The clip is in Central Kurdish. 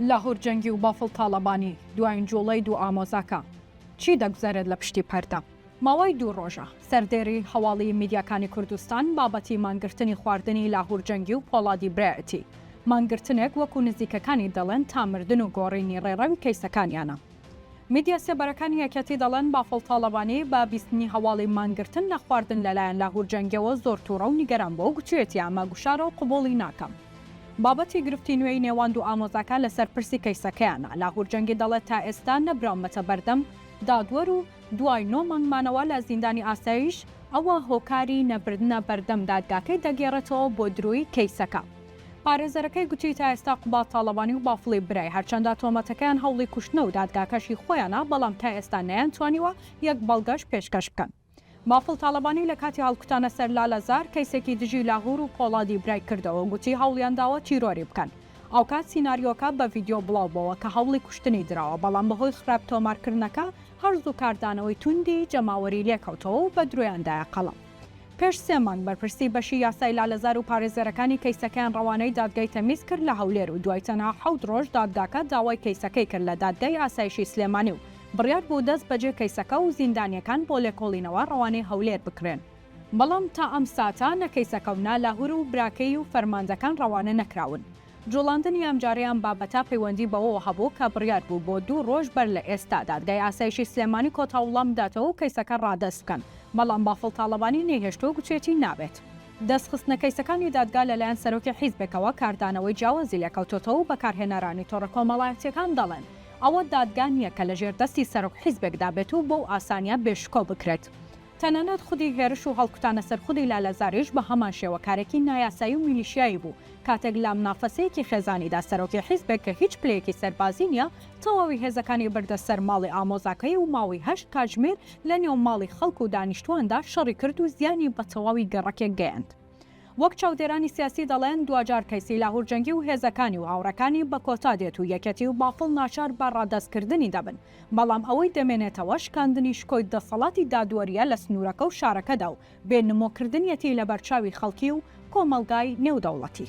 لاهور جەنگی و بافڵ تاڵەبانی دواین جوڵەی دوو ئامۆزاکە چی دەگوزەرێت لە پشتی پەردە؟ ماوەی دوو ڕۆژە سەردێری هەواڵی میدیاکانی کوردستان بابەتی مانگرتنی خواردنی لاهور جەنگی و پۆڵادی برایەتی مانگرتنێک وەکو نزیکەکانی دەڵێن تا مردن و گۆڕینی ڕێڕەوی کەیسەکانیانە. میدیا سێبەرەکانی یەکێتی دەڵێن، بافڵ تاڵەبانی بە بیستنی هەواڵی مانگرتن لە خواردن لەلایەن لاهور جەنگیەوە زۆر توڕە و نیگەران بووە و گوتویەتی ئەمە گوشارە و قبوڵی ناکەم. بابەتی گرفتی نوێی نێوان دوو ئامۆزاکە لەسەر پرسی کەیسەکەیانە، لاهور جەنگی دەڵێت تا ئێستا نەبراومەتە بەردەم دادوەر و دوای نۆ مانگ مانەوە لە زیندانی ئاسایش، ئەوە هۆکاری نەبردنە بەردەم دادگاکەی دەگێڕێتەوە بۆ درۆی کەیسەکە. پارێزەرەکەی گوتی تا ئێستا قوباد تاڵەبانی و بافڵی برای هەرچەندە تۆمەتەکەیان هەوڵی کوشتنە و دادگاکەشی خۆیانە بەڵام تا ئێستا نەیانتوانیوە یەک بەڵگەش پێشکەش بکەن. بافڵ تاڵەبانی لە کاتی هەڵکوتانە سەر لالەزار کەیسێکی دژی لاهور و پۆڵادی برای کردەوە و گوتی هەوڵیان داوە تیرۆری بکەن ئەوکات سیناریۆکە بە ڤیدیۆ بڵاو بۆوە کە هەوڵی کوشتنی دراوە بەڵام بەهۆی خراپ تۆمارکردنەکە هەر زوو کاردانەوەی توندی جەماوەری لێکەوتەوە و بە درۆیان دایە قەڵەم. پێش سێ مانگ بەرپرسی بەشی یاسای لالەزار و پارێزەرەکانی کەیسەکەیان ڕەوانەی دادگای تەمیز کرد لە هەولێر و دوای تەنها حەوت ڕۆژ دادگاکە داوای کەیسەکەی کرد لە دادگای ئاسایشی سلێمانی و بڕیار بوو دەست بەجێ کەیسەکە و زیندانیەکان بۆ لێکۆڵینەوە ڕەوانەی هەولێر بکرێن، بەڵام تا ئەم ساتە نە کەیسەکە و نە لاهور و براکەی و فەرماندەکان ڕەوانە نەکراون. جوڵاندنی ئەمجارەی ئەم بابەتە پەیوەندی بەوەوە هەبوو کە بڕیار بوو بۆ دوو ڕۆژ بەر لە ئێستا دادگای ئاسایشی سلێمانی کۆتا وڵام بداتەوە و کەیسەکە ڕادەست بکەن، بەڵام بافڵ تاڵەبانی نەیهێشت و گوتویەتی نابێت. دەستخستنە کەیسەکانی دادگا لەلایەن سەرۆکی حیزبێکەوە کاردانەوەی جیاوازی لێکەوتۆتەوە و بەکارهێنەرانی تۆڕە کۆمەڵایەتییەکان دەڵێن ئەوە دادگا نییە کە لەژێر دەستی سەرۆک حیزبێکدا بێت و بەو ئاسانییە بێ شکۆ بکرێت. تەنانەت خودی هێرش و هەڵکوتانە سەر خودی لالەزاریش بە هەمان شێوە کارێکی نایاسایی و میلیشیایی بوو، کاتێک لە منافەسەیەکی خێزانیدا سەرۆکی حیزبێک کە هیچ پلەیەکی سەربازی نییە، تەواوی هێزەکانی بردە سەر ماڵی ئامۆزاکەی و ماوەی هەشت کاتژمێر لە نێو ماڵی خەڵک و دانیشتوواندا شەڕی کرد و زیانی بە تەواوی گەڕەکێک گەیاند. وەک چاودێرانی سیاسی دەڵێن، دواجار کەیسی لاهوورجەنگی و هێزەکانی و هاوڕێکانی بە کۆتا دێت و یەکێتی و بافڵ ناچار بە ڕادەستکردنی دەبن. بەڵام ئەوەی دەمێنێتەوە شکاندنی شکۆی دەسەڵاتی دادوەرییە لە سنوورەکە و شارەکەدا و بێ نمۆ کردنیەتی لە بەرچاوی خەڵکی و کۆمەڵگای نێودەوڵەتی.